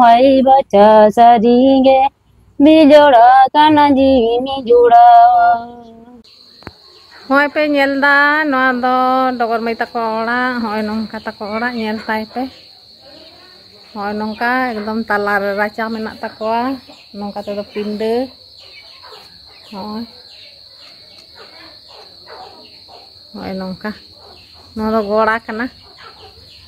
ᱦᱚᱭ ᱵᱟᱪᱟ ᱥᱟᱹᱨᱤ ᱜᱮ ᱵᱤᱡᱚᱲᱟ ᱠᱟᱱᱟ ᱡᱤᱣᱤ ᱢᱤᱡᱚᱲᱟ ᱦᱚᱸᱜᱼᱚᱭ ᱯᱮ ᱧᱮᱞ ᱫᱟ ᱱᱚᱣᱟ ᱫᱚ ᱰᱚᱜᱚᱨ ᱢᱟᱹᱭ ᱛᱟᱠᱚ ᱚᱲᱟᱜ ᱦᱚᱸᱜᱼᱚᱭ ᱱᱚᱝᱠᱟ ᱛᱟᱠᱚ ᱚᱲᱟᱜ ᱧᱮᱞ ᱛᱟᱭ ᱯᱮ ᱦᱚᱸᱜᱼᱚᱭ ᱱᱚᱝᱠᱟ ᱮᱠᱫᱚᱢ ᱛᱟᱞᱟ ᱨᱮ ᱨᱟᱪᱟ ᱢᱮᱱᱟᱜ ᱛᱟᱠᱚᱣᱟ ᱱᱚᱝᱠᱟ ᱛᱮᱫᱚ ᱯᱤᱸᱰᱟᱹ ᱦᱚᱸᱜᱼᱚᱭ ᱦᱚᱸᱜᱼᱚᱭ ᱱᱚᱝᱠᱟ ᱱᱚᱣᱟ ᱫᱚ ᱜᱚᱲᱟ ᱠᱟᱱᱟ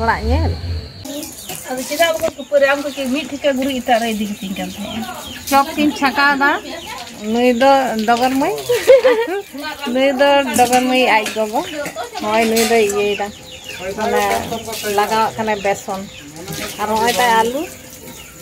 ᱚᱲᱟᱜ ᱧᱮᱞ ᱟᱫᱚ ᱪᱮᱫᱟᱜ ᱵᱟᱠᱚ ᱠᱷᱟᱹᱯᱟᱹᱨᱤ ᱟᱢ ᱠᱚᱠᱤ ᱢᱤᱫ ᱴᱷᱤᱠᱟᱹ ᱜᱩᱨᱤᱡ ᱮᱴᱟᱜ ᱨᱮ ᱤᱫᱤ ᱠᱟᱛᱤᱧ ᱠᱟᱱ ᱛᱟᱦᱮᱸᱜᱼᱟ ᱪᱚᱠ ᱠᱤᱱ ᱪᱷᱟᱠᱟᱣᱫᱟ ᱱᱩᱭ ᱫᱚ ᱰᱚᱜᱚᱨ ᱢᱟᱹᱭ ᱱᱩᱭ ᱫᱚ ᱰᱚᱜᱚᱨ ᱢᱟᱹᱭ ᱟᱡ ᱜᱚᱜᱚ ᱱᱚᱜᱼᱚᱭ ᱱᱩᱭ ᱫᱚᱭ ᱤᱭᱟᱹᱭᱮᱫᱟ ᱚᱱᱟ ᱞᱟᱜᱟᱣᱟᱜ ᱠᱟᱱᱟᱭ ᱵᱮᱥᱚᱱ ᱟᱨ ᱱᱚᱜᱼᱚᱭ ᱛᱟᱭ ᱟᱹᱞᱩ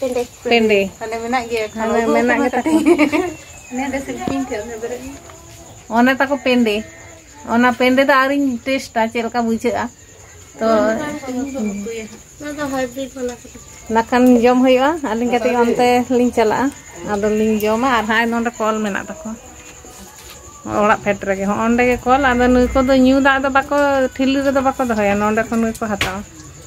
ᱯᱮᱸᱰᱮ ᱯᱮᱸᱰᱮ ᱛᱟᱦᱞᱮ ᱢᱮᱱᱟᱜ ᱜᱮᱭᱟ ᱛᱟᱦᱞᱮ ᱢᱮᱱᱟᱜ ᱜᱮ ᱛᱟᱠᱚ ᱱᱮᱰᱮ ᱥᱤᱞᱯᱤᱧ ᱛᱮ ᱚᱱᱮ ᱵᱮᱨᱮᱫ ᱚᱱᱮ ᱛᱟᱠᱚ ᱯᱮᱸᱰᱮ ᱚᱱᱟ ᱯᱮᱸᱰᱮ ᱫᱚ ᱟᱹᱣᱨᱤᱧ ᱴᱮᱥᱴᱟ ᱪᱮᱫ ᱞᱮᱠᱟ ᱵᱩᱡᱷᱟᱹᱜᱼᱟ ᱛᱚ ᱱᱟᱠᱷᱟᱱ ᱡᱚᱢ ᱦᱩᱭᱩᱜᱼᱟ ᱟᱹᱞᱤᱧ ᱠᱟᱹᱴᱤᱡ ᱚᱱᱛᱮ ᱞᱤᱧ ᱪᱟᱞᱟᱜᱼᱟ ᱟᱫᱚ ᱞᱤᱧ ᱡᱚᱢᱟ ᱟᱨ ᱦᱟᱸᱜ ᱱᱚᱰᱮ ᱠᱚᱞ ᱢᱮᱱᱟᱜ ᱛᱟᱠᱚᱣᱟ ᱚᱲᱟᱜ ᱯᱷᱮᱰ ᱨᱮᱜᱮ ᱦᱚᱸ ᱚᱸᱰᱮ ᱜᱮ ᱠᱚᱞ ᱟᱫᱚ ᱱᱩᱭ ᱠᱚᱫᱚ ᱧᱩ ᱫᱟᱜ ᱫᱚ ᱵᱟᱠᱚ ᱴᱷᱤᱞᱤ ᱨᱮᱫᱚ ᱵᱟᱠᱚ ᱫᱚᱦᱚᱭᱟ ᱱᱚᱰᱮ ᱠᱷᱚᱱ ᱜᱮᱠᱚ ᱦᱟᱛᱟᱣᱟ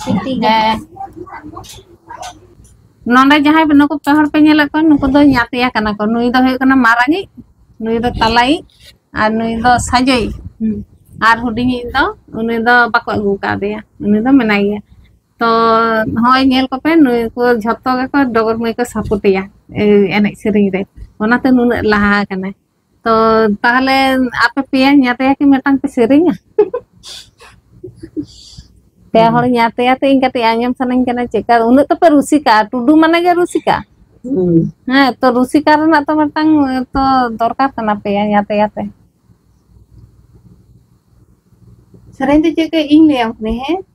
ᱥᱤᱴᱤ ᱜᱮ ᱦᱮᱸ ᱱᱚᱰᱮ ᱡᱟᱦᱟᱸᱭ ᱱᱩᱠᱩ ᱯᱮ ᱦᱚᱲ ᱯᱮ ᱧᱮᱞᱮᱫ ᱠᱚᱣᱟ ᱱᱩᱠᱩ ᱫᱚ ᱧᱟᱛᱭᱟ ᱠᱟᱱᱟ ᱠᱚ ᱱᱩᱭ ᱫᱚ ᱦᱩᱭᱩᱜ ᱠᱟᱱᱟ ᱢᱟᱨᱟᱝᱤᱡ ᱱᱩᱭ ᱫᱚ ᱛᱟᱞᱟᱭᱤᱡ ᱟᱨ ᱱᱩᱭ ᱫᱚ ᱥᱟᱡᱚᱭᱤᱡ ᱦᱩᱸ ᱟᱨ ᱦᱩᱰᱤᱧᱤᱡ ᱫᱚ ᱩᱱᱤ ᱫᱚ ᱵᱟᱠᱚ ᱟᱹᱜᱩ ᱟᱠᱟᱫᱮᱭᱟ ᱩᱱᱤ ᱫᱚ ᱢᱮᱱᱟᱭ ᱜᱮᱭᱟ ᱛᱚ ᱱᱚᱜᱼᱚᱭ ᱧᱮᱞ ᱠᱚᱯᱮ ᱱᱩᱭ ᱠᱚ ᱡᱷᱚᱛᱚ ᱜᱮᱠᱚ ᱰᱚᱜᱚᱨ ᱢᱟᱹᱭ ᱠᱚ ᱥᱟᱯᱳᱴᱮᱭᱟ ᱮᱱᱮᱡ ᱥᱮᱨᱮᱧ ᱨᱮ ᱚᱱᱟᱛᱮ ᱱᱩᱱᱟᱹᱜ ᱞᱟᱦᱟ ᱟᱠᱟᱱᱟᱭ ᱛᱚ ᱛᱟᱦᱚᱞᱮ ᱟᱯᱮ ᱯᱮᱭᱟ ᱧᱟᱛᱭᱟ ᱠᱤ ᱢᱤᱫᱴᱟᱝ ᱯᱮ ᱥᱮᱨᱮᱧᱟ ᱯᱮ ᱦᱚᱲ ᱧᱟᱛᱭᱟ ᱛᱮ ᱤᱧ ᱠᱟᱹᱴᱤᱡ ᱟᱸᱡᱚᱢ ᱥᱟᱱᱟᱧ ᱠᱟᱱᱟ ᱪᱮᱫᱠᱟ ᱩᱱᱟᱹᱜ ᱛᱚᱯᱮ ᱨᱩᱥᱤᱠᱟ ᱴᱩᱰᱩ ᱢᱟᱱᱮ ᱜᱮ ᱨᱩᱥᱤᱠᱟ ᱦᱮᱸ ᱛᱚ ᱨᱩᱥᱤᱠᱟ ᱨᱮᱱᱟᱜ ᱛᱚ ᱢᱤᱫᱴᱟᱝ ᱛᱚ ᱫᱚᱨᱠᱟᱨ ᱠᱟᱱᱟ ᱯᱮᱭᱟ ᱧᱟᱛᱭᱟ ᱛᱮ ᱥᱮᱨᱮᱧ ᱫᱚ ᱪᱮᱫ ᱠᱚ ᱤᱧ ᱞᱟᱹᱭᱟᱢ ᱠᱟᱹᱱᱟᱹᱧ ᱦᱮᱸ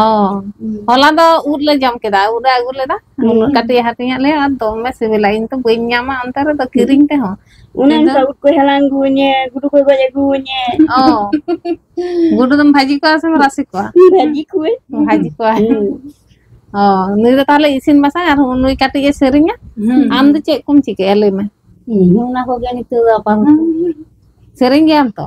ᱚ ᱦᱚᱞᱟ ᱫᱚ ᱩᱫ ᱞᱮ ᱡᱚᱢ ᱠᱮᱫᱟ ᱩᱫ ᱞᱮ ᱟᱹᱜᱩ ᱞᱮᱫᱟ ᱱᱩᱱᱟᱹᱜ ᱦᱩᱸ ᱠᱟᱹᱴᱤᱡ ᱮ ᱦᱟᱹᱴᱤᱧ ᱟᱫ ᱞᱮᱭᱟ ᱟᱨ ᱫᱚᱢᱮ ᱥᱤᱵᱤᱞᱟ ᱤᱧ ᱛᱚ ᱵᱟᱹᱧ ᱧᱟᱢᱟ ᱚᱱᱛᱮ ᱨᱮᱫᱚ ᱠᱤᱨᱤᱧ ᱛᱮᱦᱚᱸ ᱚᱱᱮ ᱠᱤᱱᱛᱩ ᱚᱱᱠᱟ ᱩᱫ ᱠᱚᱭ ᱦᱟᱞᱟᱝ ᱟᱹᱜᱩ ᱤᱧᱟᱹ ᱜᱩᱰᱩ ᱠᱚᱭ ᱜᱚᱡ ᱟᱹᱜᱩ ᱤᱧᱟᱹ ᱚ ᱜᱩᱰᱩ ᱫᱚᱢ ᱵᱷᱟᱹᱡᱤ ᱠᱚᱣᱟ ᱥᱮᱢ ᱨᱟᱥᱮ ᱠᱚᱣᱟ ᱵᱷᱟᱹᱡᱤ ᱠᱚᱣᱟᱹᱧ ᱵᱷᱟᱹᱡᱤ ᱠᱚᱣᱟ ᱦᱩᱸ ᱚ ᱱᱩᱭ ᱫᱚ ᱛᱟᱦᱚᱞᱮ ᱤᱥᱤᱱ ᱵᱟᱥᱟᱝ ᱟᱨ ᱱᱩᱭ ᱠᱟᱹᱴᱤᱡ ᱮ ᱥᱮᱨᱮᱧᱟ ᱦᱩᱸ ᱟᱢ ᱫᱚ ᱪᱮᱫ ᱠᱚᱢ ᱪᱤᱠᱟᱹᱭᱟ ᱞᱟᱹᱭ ᱢᱮ ᱤᱧ ᱦᱚᱸ ᱚᱱᱟ ᱠᱚᱜᱮ ᱱᱤᱛᱚᱜ ᱫᱚ ᱟᱯᱟᱛᱚᱛᱚ ᱥᱮᱨᱮᱧ ᱜᱮᱭᱟᱢ ᱛᱚ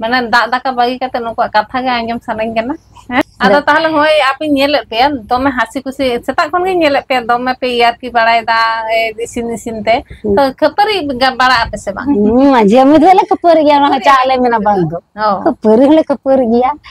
ᱢᱟᱱᱮ ᱫᱟᱜ ᱫᱟᱠᱟ ᱵᱟᱹᱜᱤ ᱠᱟᱛᱮᱜ ᱱᱩᱠᱩᱣᱟᱜ ᱠᱟᱛᱷᱟ ᱜᱮ ᱟᱸᱡᱚᱢ ᱥᱟᱱᱟᱧ ᱠᱟᱱᱟ ᱦᱮᱸ ᱟᱫᱚ ᱛᱟᱦᱚᱞᱮ ᱦᱳᱭ ᱟᱯᱮᱧ ᱧᱮᱞᱮᱫ ᱯᱮᱭᱟ ᱫᱚᱢᱮ ᱦᱟᱹᱥᱤ ᱠᱩᱥᱤ ᱥᱮᱛᱟᱜ ᱠᱷᱚᱱ ᱜᱤᱧ ᱧᱮᱞᱮᱫ ᱯᱮᱭᱟ ᱫᱚᱢᱮ ᱯᱮ ᱮᱭᱟᱨ ᱠᱤ ᱵᱟᱲᱟᱭᱮᱫᱟ ᱤᱥᱤᱱ ᱤᱥᱤᱱ ᱛᱮ ᱛᱚ ᱠᱷᱟᱹᱯᱟᱹᱨᱤ ᱵᱟᱲᱟᱜ ᱟᱯᱮ ᱥᱮ ᱵᱟᱝ ᱦᱩᱸ ᱢᱟᱡᱷᱮ ᱢᱚᱫᱷᱮ ᱞᱮ ᱠᱷᱟᱹᱯᱟᱹᱨᱤ ᱜᱮᱭᱟ ᱚᱱᱟ ᱦᱚᱸ ᱠᱷᱟᱹᱯᱟᱹᱨᱤᱜ ᱪᱟᱜ ᱟᱞᱮ ᱞᱮ ᱢᱮᱱᱟ ᱠᱷᱟᱹᱯᱟᱹᱨᱤ ᱵᱟᱝ ᱫᱚ ᱫᱚ ᱚ ᱠᱷᱟᱹᱯᱟᱹᱨᱤ ᱦᱚᱸᱞᱮ ᱠᱷᱟᱹᱯᱟᱹᱨᱤ ᱜᱮᱭᱟ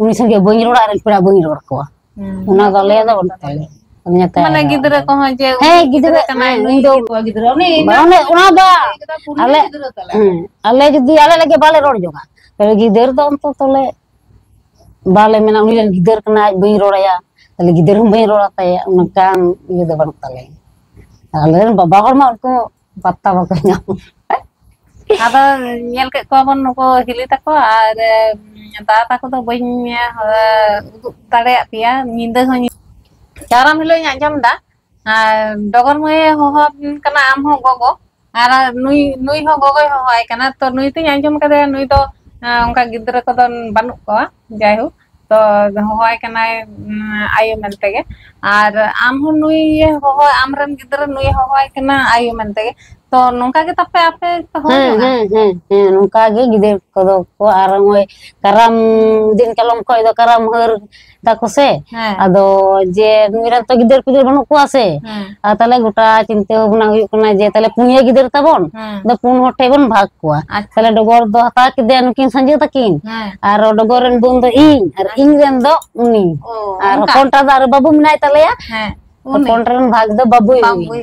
ᱩᱱᱤ ᱥᱚᱸᱜᱮ ᱵᱟᱹᱧ ᱨᱚᱲᱟ ᱟᱨ ᱯᱮᱲᱟ ᱵᱟᱹᱧ ᱨᱚᱲ ᱠᱚᱣᱟ ᱚᱱᱟ ᱫᱚ ᱟᱞᱮᱭᱟᱜ ᱫᱚ ᱵᱟᱹᱱᱩᱜ ᱛᱟᱞᱮᱭᱟ ᱢᱟᱱᱮ ᱜᱤᱫᱽᱨᱟᱹ ᱠᱚᱦᱚᱸ ᱡᱮ ᱦᱮᱸ ᱜᱤᱫᱽᱨᱟᱹ ᱠᱟᱱᱟᱭ ᱤᱧ ᱫᱚ ᱜᱤᱫᱽᱨᱟᱹ ᱩᱱᱤ ᱚᱱᱟ ᱫᱚ ᱟᱞᱮ ᱟᱞᱮ ᱡᱩᱫᱤ ᱟᱞᱮ ᱞᱟᱹᱜᱤᱫ ᱵᱟᱞᱮ ᱨᱚᱲ ᱡᱚᱜᱟ ᱛᱟᱦᱞᱮ ᱜᱤᱫᱟᱹᱨ ᱫᱚ ᱚᱱᱛᱚ ᱛᱚᱞᱮ ᱵᱟᱞᱮ ᱢᱮᱱᱟ ᱩᱱᱤ ᱨᱮᱱ ᱜᱤᱫᱟᱹᱨ ᱠᱟᱱᱟᱭ ᱟᱡ ᱵᱟᱹᱧ ᱨᱚᱲᱟᱭᱟ ᱛᱟᱦᱞᱮ ᱜᱤᱫᱟᱹᱨ ᱦᱚᱸ ᱵᱟᱹᱧ ᱨᱚᱲ ᱟᱛᱟᱭᱟ ᱚᱱᱠᱟᱱ ᱤᱭᱟᱹ ᱫᱚ ᱵᱟᱹᱱᱩᱜ ᱛᱟᱞᱮᱭᱟ ᱟᱞᱮ ᱨᱮᱱ ᱵᱟᱵᱟ ᱦᱚᱲ ᱢᱟ ᱩᱱᱠᱩ ᱯᱟᱛᱛᱟ ᱵᱟᱠᱚ ᱧᱟᱢ ᱟᱫᱚ ᱧᱮᱞ ᱠᱮᱫ ᱠᱚᱣᱟ ᱵᱚᱱ ᱱᱩᱠᱩ ᱦᱤᱞᱤ ᱛᱟᱠᱚ ᱟᱨ ᱫᱟᱫᱟ ᱛᱟᱠᱚ ᱫᱚ ᱵᱟᱹᱧ ᱩᱫᱩᱜ ᱫᱟᱲᱮᱭᱟᱜ ᱯᱮᱭᱟ ᱧᱤᱫᱟᱹ ᱦᱚᱸ ᱠᱟᱨᱟᱢ ᱦᱤᱞᱳᱜ ᱤᱧ ᱟᱸᱡᱚᱢ ᱮᱫᱟ ᱟᱨ ᱰᱚᱜᱚᱨ ᱢᱟᱹᱭ ᱮ ᱦᱚᱦᱚ ᱟᱵᱤᱱ ᱠᱟᱱᱟ ᱟᱢ ᱦᱚᱸ ᱜᱚᱜᱚ ᱟᱨ ᱱᱩᱭ ᱱᱩᱭ ᱦᱚᱸ ᱜᱚᱜᱚᱭ ᱦᱚᱦᱚᱣᱟᱭ ᱠᱟᱱᱟ ᱛᱚ ᱱᱩᱭ ᱛᱚᱧ ᱟᱸᱡᱚᱢ ᱠᱟᱫᱮᱭᱟ ᱱᱩᱭ ᱫᱚ ᱚᱱᱠᱟ ᱜᱤᱫᱽᱨᱟᱹ ᱠᱚᱫᱚ ᱵᱟᱹᱱᱩᱜ ᱠᱚᱣᱟ ᱡᱟᱭᱦᱳᱠ ᱛᱚ ᱦᱚᱦᱚᱣᱟᱭ ᱠᱟᱱᱟᱭ ᱟᱭᱳ ᱢᱮᱱᱛᱮ ᱜᱮ ᱟᱨ ᱟᱢ ᱦᱚᱸ ᱱᱩᱭ ᱮ ᱦᱚᱦᱚ ᱟᱢ ᱨᱮᱱ ᱜᱤᱫᱽᱨᱟᱹ ᱱᱩᱭᱮ ᱦᱚᱦᱚᱣᱟᱭ ᱠᱟᱱᱟ ᱟᱭᱳ ᱢᱮᱱᱛᱮ ᱜᱮ ᱛᱚ ᱱᱚᱝᱠᱟ ᱜᱮ ᱛᱟᱯᱮ ᱟᱯᱮ ᱯᱮ ᱦᱚᱦᱚ ᱦᱮᱸ ᱡᱚᱝᱟ ᱦᱮᱸ ᱦᱮᱸ ᱦᱮᱸ ᱱᱚᱝᱠᱟ ᱜᱮ ᱜᱤᱫᱟᱹᱨ ᱠᱚᱫᱚ ᱠᱚ ᱟᱨ ᱱᱚᱜᱼᱚᱭ ᱠᱟᱨᱟᱢ ᱫᱤᱱ ᱠᱟᱞᱚᱢ ᱠᱷᱚᱱ ᱫᱚ ᱠᱟᱨᱟᱢ ᱦᱟᱹᱨ ᱫᱟᱠᱚ ᱥᱮ ᱦᱮᱸ ᱟᱫᱚ ᱡᱮ ᱱᱩᱭ ᱨᱮᱱ ᱛᱚ ᱜᱤᱫᱟᱹᱨ ᱯᱤᱫᱟᱹᱨ ᱵᱟᱹᱱᱩᱜ ᱠᱚᱣᱟ ᱥᱮ ᱦᱮᱸ ᱟᱨ ᱛᱟᱦᱚᱞᱮ ᱜᱚᱴᱟ ᱪᱤᱱᱛᱟᱹ ᱵᱷᱟᱵᱱᱟ ᱦᱩᱭᱩᱜ ᱠᱟᱱᱟ ᱡᱮ ᱛᱟᱦᱚᱞᱮ ᱯᱩᱱᱭᱟᱹ ᱜᱤᱫᱽᱨᱟᱹ ᱛᱟᱵᱚᱱ ᱦᱮᱸ ᱟᱫᱚ ᱯᱩᱱ ᱦᱚᱲ ᱴᱷᱮᱱ ᱵᱚᱱ ᱵᱷᱟᱜᱽ ᱠᱚᱣᱟ ᱟᱪᱪᱷᱟ ᱛᱟᱦᱚᱞᱮ ᱰᱚᱜᱚᱨ ᱫᱚ ᱦᱟᱛᱟᱣ ᱠᱮᱫᱮᱭᱟ ᱱᱩᱠᱤᱱ ᱥᱟᱸᱡᱳ ᱛᱟᱹᱠᱤᱱ ᱦᱮᱸ ᱟᱨ ᱰᱚᱜᱚᱨ ᱨᱮᱱ ᱵᱳᱱ ᱫᱚ ᱤᱧ ᱟᱨ ᱤᱧ ᱨᱮᱱ ᱫᱚ ᱩᱱᱤ ᱚ ᱟᱨ ᱚᱱᱠᱟ ᱦᱚᱯᱚᱱᱴᱟ ᱫᱚ ᱟᱨ ᱵᱟᱹᱵᱩ ᱢᱮᱱᱟᱭ ᱛᱟᱞᱮᱭᱟ ᱦᱮᱸ ᱩᱱᱤ ᱦᱚᱯᱚᱱ ᱨᱮᱱ ᱵᱷᱟᱜᱽ ᱫᱚ ᱵᱟᱹᱵᱩᱭ ᱵᱟᱝ ᱦᱩᱭ ᱵᱩᱭ